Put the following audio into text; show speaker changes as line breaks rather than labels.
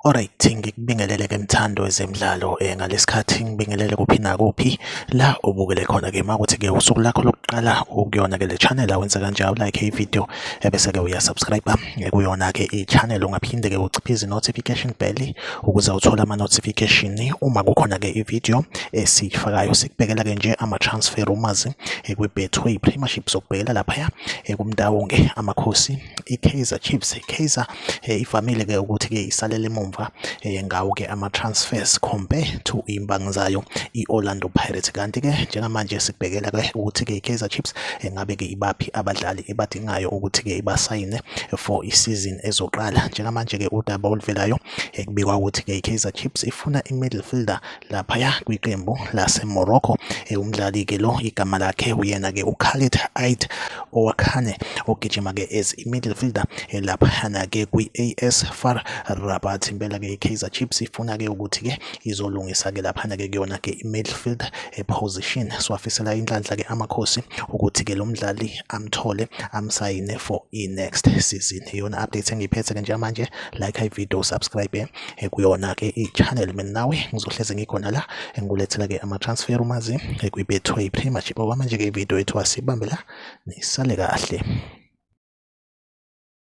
Alright ngikubingelele ke mthando wezemidlalo eh ngalesikhathi ngibingelele kuphi nakuphi la ubukele khona ke makuthi ke usuku lakho lokuqala ukuyona ke le channel awenze kanjalo like i video ebese ke uya subscribe ekuyona-ke i-channel ungaphinde-ke uciphe izi-notification bell ukuze uthole ama-notification uma kukhona-ke i-video esiyifakayo sikubhekela-ke nje ama-transfer rumors ekwi-betway premiership sokubhekela laphaya ekumtawonge amakhosi i-kaizer chiefs i-kaizer eh, ivamile-ke ukuthi-ke isalele emumva eh, ngawo-ke ama-transfers compare to imbangi zayo i-orlando pirates kanti-ke njengamanje sikubhekela-ke ukuthi-ke i-kaizer chiefs engabe-ke eh, ibaphi abadlali ebadi abayidingayo ukuthi-ke ibasayine for isizini ezoqala njengamanje-ke udaba oluvelayo ekubikwa ukuthi-ke i-kaizer chips ifuna i-middle fielder laphaya kwiqembu lasemorocco umdlali-ke lo igama lakhe uyena-ke ukhalid ait owakhane ogijima-ke as i-middle fielder laphana-ke kwi-as far rabat impela-ke i-kaizer chips ifuna-ke ukuthi-ke izolungisa ke laphana ke kuyona ke i-midfield position siwafisela inhlanhla ke amakhosi ukuthi ke lo mdlali amthole amsayine for i-next season iyona update engiyiphethe ke njengamanje like i-video subscribe eh, kuyona ke i-channel mina nawe ngizohleze ngikhona la engikulethela ke ama-transfer umazi eh, kwibethwe i-premiership okwamanje ke i-video yethu asibambe la nisale kahle